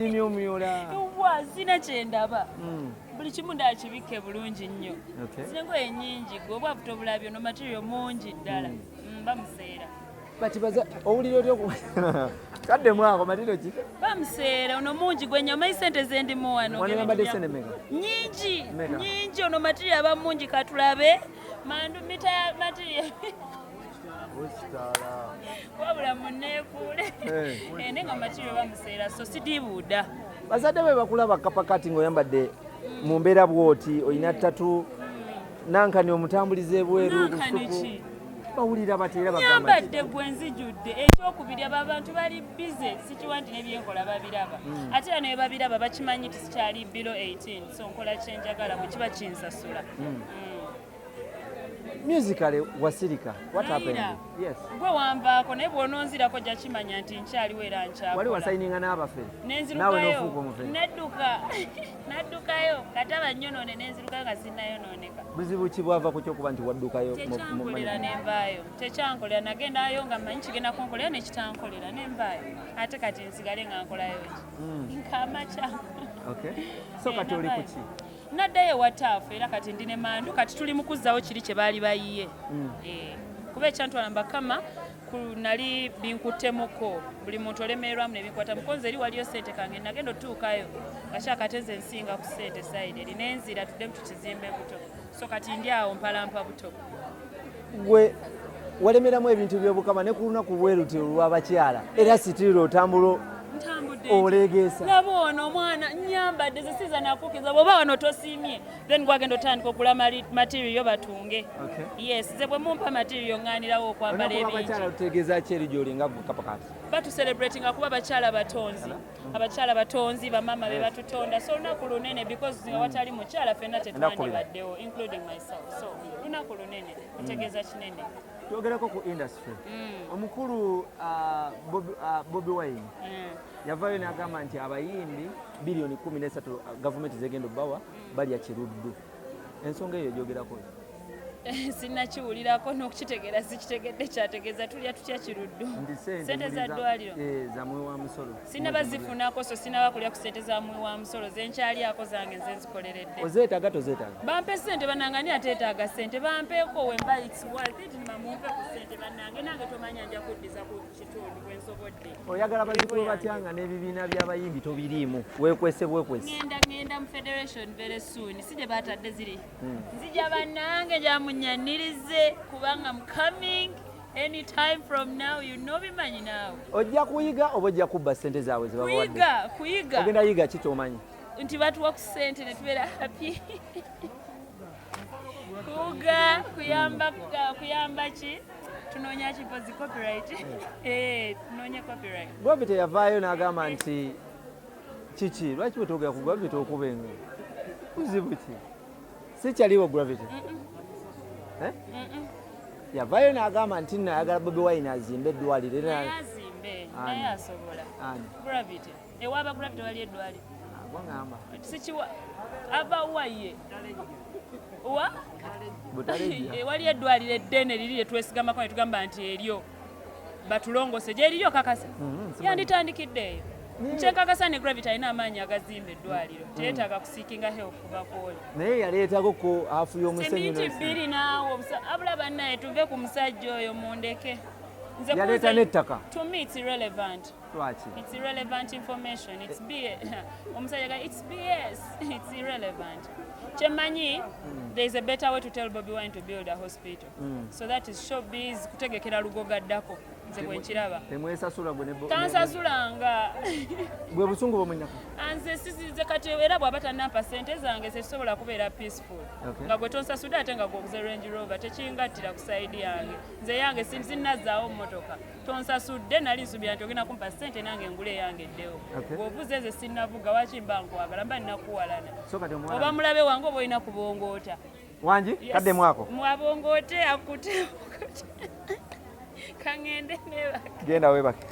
Nnimye omuyoola. Yowwa zina kye ndaba. Hmm. Buli kimu ndaakibikke bulungi nnyo. Zina engoye nnyingi gwe obwa buto bulabyo no material mungi ddala. Hmm. Hmm, bamuseera. Bati baza owulira otya okuba. Kadde mwako matiro ki? Bamuseera ono mungi gwe nnyama isente ze ndimu wano. Wano yambadde sente meka? Nnyingi. Nnyingi ono material aba mungi katulabe. Mandu mita material. wabula muneekuule eh, ne nga makiri bamuseera so sidibuuda bazadde be bakulaba kapakati ng'oyambadde mu mbeera bwoti olina ttatu nankani omutambuliza ebweru bawulira batera bagambanyambadde gwe nzijudde ekyokubiri abo abantu bali bize sikiwa nti nebyenkola babiraba hmm. ate era naye babiraba bakimanyi nti sikyali bilo 18 so nkola kyenjagala bwe kiba kinsasula hmm. Hmm. musically wasirika what happened yes gwe wambaako naye bw'ononzirako ojja kimanya nti nkyaliwo era nkyakola wali wasayininga n'abafere naawe n'ofuuka omufere nadduka naddukayo kataba nyonoone nenzirukayo nga sinnayonooneka buzibu ki bwava ku kyokuba nti waddukayo kyekyankolera nenvaayo kyekyankolera nagendayo nga manyi kigenda kunkolera nekitankolera nenvaayo ate kati nsigale nga nkolayo ki hmm. nkamakya okay so kati oli kuki naddayo ewa taafu era kati ndi ne mandu kati tuli mu kuzzawo kiri kye baali bayiye hmm. eh, kuba ekyantwala mbakama nali binkuttemuko buli muntu olemererwamu nebinkwata mukonzi eri waliyo sente kange nagenda otuukayo ngakyakateze ensinga ku sente saidi eri nenzira tudde mutukizimbe buto so kati ndi awo mpalampa buto gwe walemeramu ebintu byobukama ne ku lunaku bweruti olwabakyala era sitiira otambula olegeesa laba ono omwana nyambadde zesiza nakukiza bwoba wano tosiimye then gwagenda otandika okula material batunge yes ze bwe mumpa material ŋŋanirawo okwambala ebingi otegeeza ki eri gyoli nga gukapakati batu celebrating akuba bakyala batonzi abakyala batonzi bamama be batutonda so lunaku lunene because nga watali mukyala fenna tetwandibaddewo including myself so lunaku lunene otegeeza mm. kinene twogereko ku industry mm. omukulu uh, uh, bobi wine mm. yavayo nagamba nti abayimbi biliyoni kumi nesatu uh, gavumenti zegenda obawa balya kiruddu ensonga eyo egyogerako sinakiwulirako nokukitegeera sikitegedde kyategeeza tulya tutya kiruddu sente za ddwaliro eh, sinaba zifunako so sinaba kulya ku sente za mwi wa musolo zenkyalyako zange nze nzikoleredde ozeetaaga tozeetaaga bampe sente banange ani ateetaaga sente bampeeko wemba its worth it mumpe ku sente banange nange tomanya nja kuddiza kudda oyagala bazikuwe batya nga n'ebibiina by'abayimbi tobiriimu wekwese bwekwese ngenda ngenda mu federation very soon si gye batadde ziri hmm. nzija bannange gyamunyanirize kubanga mu coming anytime from now you know bimanyi naawe ojja kuyiga oba ojja kubba ssente zaabwe zebakuyiga kuyiga ogenda yiga ki kyomanyi nti batuwa ku ssente ne tubeera happy kuwuga kuyamba kuyamba ki tunoonya ki pozi copyright eh, tunoonya copyright bobi teyavaayo n'agamba nti kiki lwaki bwetogera ku gravity okuba engo kuzibu ki sikyaliwo gravity eh? yavaayo n'agamba nti nayagala bobi wine azimbe eddwaliro era ewa abagula bitola ly'eddwaliro sikiwa ava waye wa ewali eh, eddwaliro eddene liri lyetwesigamako ne tugamba nti eryo batulongose gyeririyo kakasa mm-hmm, yanditandikidde eyo nkyenkakasa ne gravity alina amaanyi agazimba eddwaliro mm. teyetaaga kusiikinga help bakwoli naye yaleetako ku afu y'omuseminti bbiri naawo abula bannaye tuve ku musajja oyo mundeke yaleeta n'ettaka to me it's irrelevant Lwaki? It's irrelevant information. It's BS. Omusajja ga it's BS. It's irrelevant. Kyemanyi mm. there is a better way to tell Bobby Wine to build a hospital. Mm. So that is showbiz kutegekera lugoga ddako. Nze bwe nkiraba. Temwesasula gwe ne Tansasulanga. Bwe busungu bwo munyako. Anze sisi ze kati era bwaba tanampa sente zange ze sobola kubeera peaceful. Okay. Nga gwe tonsasuda ate nga gwoguze Range Rover tekingattira ku side yange. Nze yange sinzi nazaawo mmotoka. tonsasudde nali nsubira nti ogenda kumpa sente nange engule yange eddewo bwovuze nze sinavuga waki mba nkwagala mba ninakuwalana oba mulabe wange oba olina kubongoota wangi kadde mwako mwabongoote akute kangende nebake genda webake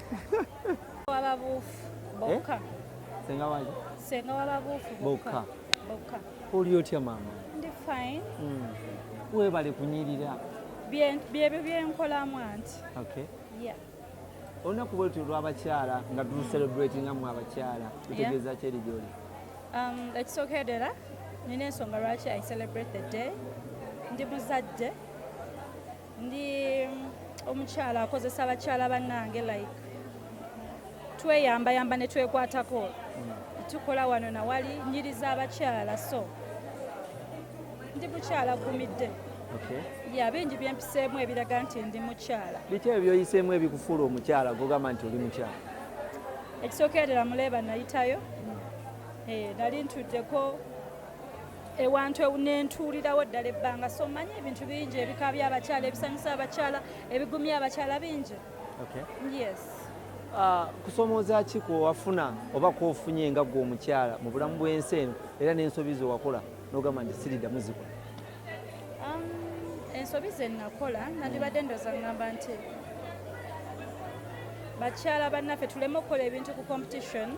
wababuufu bokka eh? senga wangi senga wababuufu bokka bokka Oli otya maama? Ndi fine. Mm. Webale kunyirira. Byebyo byenkolamu anti. Okay. Yeah. Olunaku bwe lutyo lw'abakyala nga tu mm. celebrating amu abakyala lutegeeza yeah. kyeri gyoli? Um, ekisookedera nina ensonga lwaki I celebrate the day. Ndi muzadde. ndi omukyala akozesa bakyala bannange like tweyambayamba ne twekwatako hmm. tukola wano nawali nyiriza abakyala so ndi mukyala gumidde ya bingi byempiseemu ebiraga nti ndi mukyala biki ebyo byoyiseemu ebikufuula omukyala gogamba nti oli mukyala ekisookerera muleeba nayitayo hmm. eh, nali ntuddeko ewantu nentuulirawo ddala ebbanga so manyi ebintu bingi ebikaabya abakyala ebisanyusa abakyala ebigumya abakyala bingi yes ah, kusomooza ki kwewafuna oba kwofunye nga gwe omukyala mu bulamu bw'ensi eno era n'ensobi zewakola nogamba nti siriddamu zikola um, ensobi zenakola nandibadde ndoza ngamba nti bakyala bannaffe tuleme okukola ebintu ku competition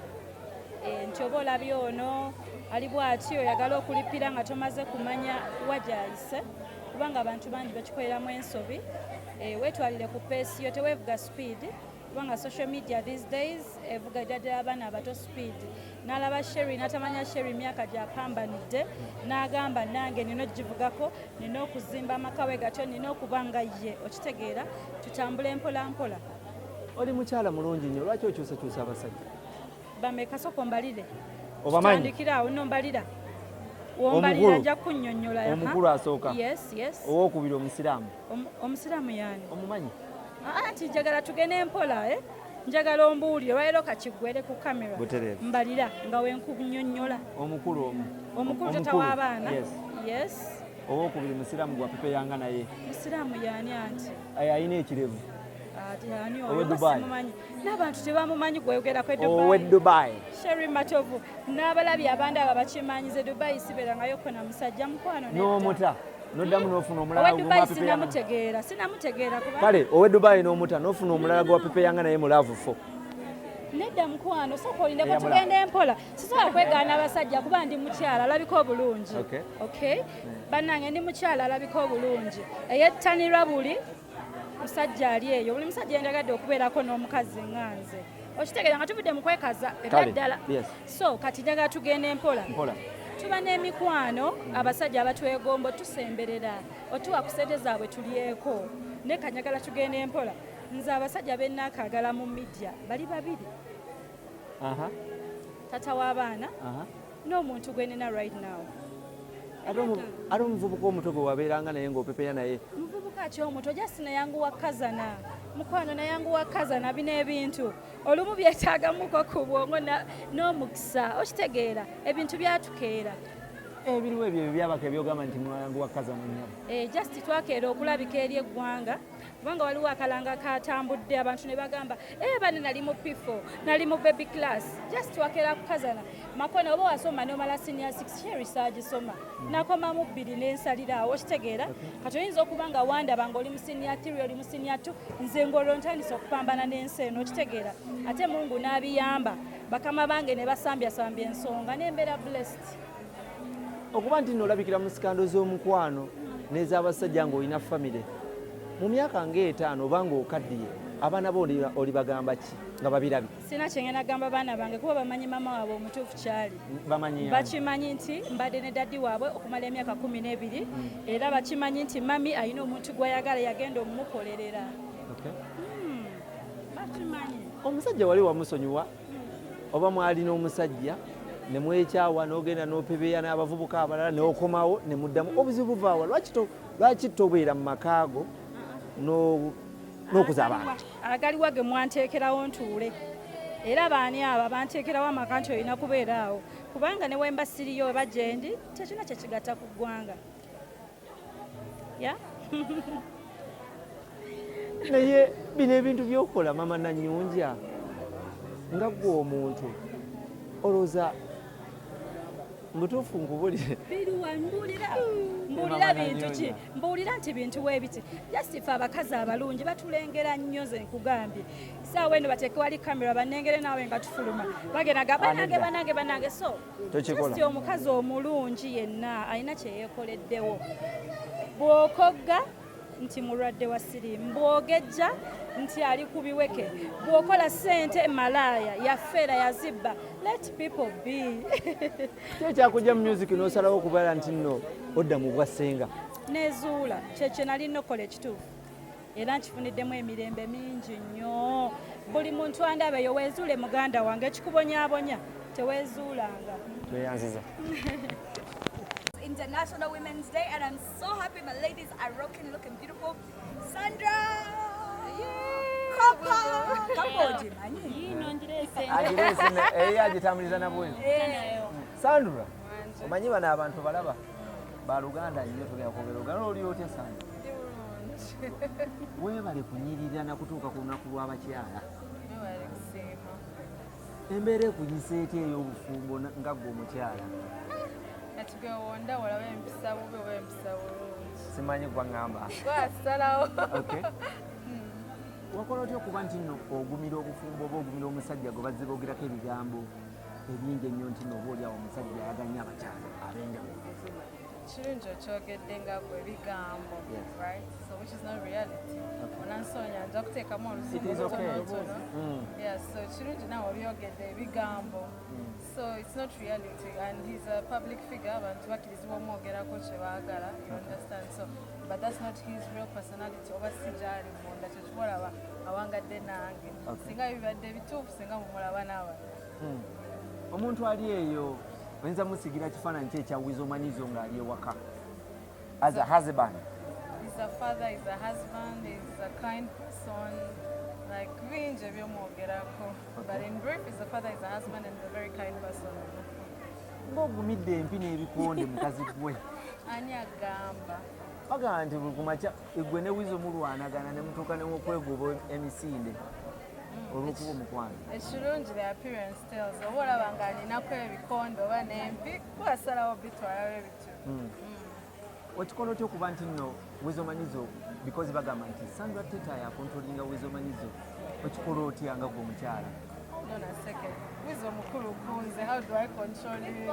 Eh, nti oba olabye ono ali bwati oyagala okulipira nga tomaze kumanya wajayise kubanga abantu bangi bakikoleramu ensobi eh, wetwalire ku peesi yo tewevuga speed kubanga social media these days evuga ejadira abaana abato speed nalaba sheri natamanya sheri myaka gyapambanidde nagamba nange nina okugivugako nina okuzimba amakawe gatyo nina okuba nga ye okitegeera tutambule mpolampola oli mukyala mulungi nyo lwaki okyusakyusa abasajja bameka soka ombalire obamanyi tandikira awo no mbalira wombalira nja kunyonyola ya omukulu asoka yes yes owo kubira omusiramu omusiramu yani omumanyi ah, anti njagala tugene empola eh njagala ombuulire lwalero kakigwere ku kamera mbalira nga wenkunyonyola omukulu omu omukulu tata w'abaana yes owokubiri musiraamu gwa pepe yanga naye musiraamu yani anti ayina ekirevu ati ani owe dubai n'abantu tebamumanyi gweyogerako owe dubai sheri matovu n'abalabi abandi abo bakimanyize dubai siberangayo kona musajja mukwano n'omuta noddamu nofuna omulalamutegeera sinamutegeera kale owe dubai n'omuta nofuna omulala gwe wapepeyanga naye mulaavu fo nedda mukwano soka olindeko tugenda empola sisobola kwegaana abasajja kuba ndi mukyala alabika obulungi ok bannange ndi mukyala alabika obulungi eyettanirwa buli musajja ali eyo buli musajja yendagadde okubeerako n'omukazi nga nze okitegeera nga tuvudde mu kwekaza ebyaddala so kati njagala tugenda empola tuba n'emikwano abasajja abatwegombo tusemberera otuwa ku sente zaabwe tulyeko naye kanyagala tugenda empola nze abasajja benakagala mu midia bali babiri tata w'abaana n'omuntu gwe nina right now ate omuvubuka omuto gwe wabeeranga naye ng'opepera naye muvubuka ki omuto just nayanguwa kazana mukwano nayanguwa kazana bino ebintu olumu byetaagamuko ku bwongo n'omukisa okitegeera ebintu byatukeera ebiriwo ebyo byabaka ebyogamba nti mwalangu wa kazana nyabo eh, just twakeera okulabika eri eggwanga kubanga waliwo akalanga katambudde abantu ne bagamba eh, bane nali mu pifo nali mu baby class just wakera kukazana makona oba wasoma nomala senior six sherisage soma mm. nakoma mu bbiri nensaliraawo okitegeera kati oyinza okuba nga wandaba nga oli mu senior three oli mu senior two nze ngolwo ntandise okupambana n'ensi eno okitegeera ate mungu n'abiyamba bakama bange ne basambyasambi ensonga nembeera blessed okuba nti nolabikira mu sikando z'omukwano n'ez'abasajja ng'olina famire mu myaka ng'etaano oba ng'okaddiye abaana bo olibagamba ki nga babirabi sina kyengenda gamba baana bange kuba bamanyi maama waabwe omutuufu kyali bakimanyi nti mbadde ne daddi waabwe okumala emyaka kumi n'ebiri mm. era bakimanyi nti mami alina omuntu gwayagala yagenda omumukolerera hmm, omusajja wali wamusonyiwa oba mwali n'omusajja ne mwekyawa n'ogenda n'opebeya n'abavubuka abalala neokomawo ne muddamu obuzibu buvaawa lwaki tobeera mu makaago n'okuza abantu agaliwa ge mwanteekerawo ntuule era baani abo abanteekerawo amaka nti olina kubeera awo kubanga ne wemba siriyo oba gyendi tekina kyekigatta ku ggwanga naye bino ebintu byokola mama nanyunja nga gwe omuntu olowooza mutuufu nkubulire mbuulira bintu ki mbuulira nti bintu webiti just fe abakazi abalungi batulengera nnyo ze nkugambye saawa eno bateekewali kamera banengere naawe nga tufuluma bagenda ga banange banange banange so tokikola omukazi omulungi yenna alina kyeyekoleddewo bwokogga nti mulwadde wa siriimu bwogejja nti ali ku biweke bwokola sente malaaya yafeera yazibba let people be kyekyakujja mu music nosalawo okubala nti no odda mu bwassenga nezuula kyekyo nali nokola ekituufu era nkifuniddemu emirembe mingi nnyo buli muntu andaba eyo weezuule muganda wange ekikubonyabonya teweezuulanga tweyanziza International Women's Day and I'm so happy my ladies are rocking looking beautiful Sandra agitambuliza nabwezi sandra omanyi bano abantu balaba baluganda nyo tugenda kwogera oluganda oli otya sandra weebale kunyirira na kutuuka ku lunaku lw'abakyala embeera ekunyisa etya ey'obufumbo nga gwe omukyala simanyi gwaŋamba wakola otya okuba nti no ogumira obufumbo oba ogumira omusajja gwe bazze boogerako ebigambo ebingi ennyo nti nooba oli awo omusajja ayaganya abakyala ab'enjawulo kirungi okyogedde nga gwe bigambo right so which is not reality onansoonya nja kuteekamu olusuutonotono mm. yeah so kirungi nawe obyogedde ebigambo mm. so it's not reality and he's a public figure abantu bakirizibwa omwogerako kye baagala you understand so but that's not his real personality oba si gyali munda kyekibolaba awangadde nange singa bibadde bituufu singa mumulaba n'abalala Hmm. Omuntu ali eyo oyinza musigira kifaananyi kye ekya wizo manyizo ng'ali ewaka as a husband. He's a father, he's a husband, he's a kind person. Like bingi ebyomwogerako. But in brief, he's a father, he's a husband and a very kind person. Ng'ogumidde empi n'ebikonde mukazi gwe. Ani agamba? bagamba nti buli kumakya egwe ne wizo mulwanagana ne mutuuka newokwegoba emisinde olwokuba omukwano ekirungi the appearance tells oba olaba nga alinaku ebikondo oba nempi kuasalawo bitwalawo ebitu hmm. hmm. okikola otya okuba nti nno wezomanyizo because bagamba nti sandra teta yakontrolinga wezomanyizo okikola otya nga gwe omukyala Hold on a second. Wizo mukuru kunze. How do I control you?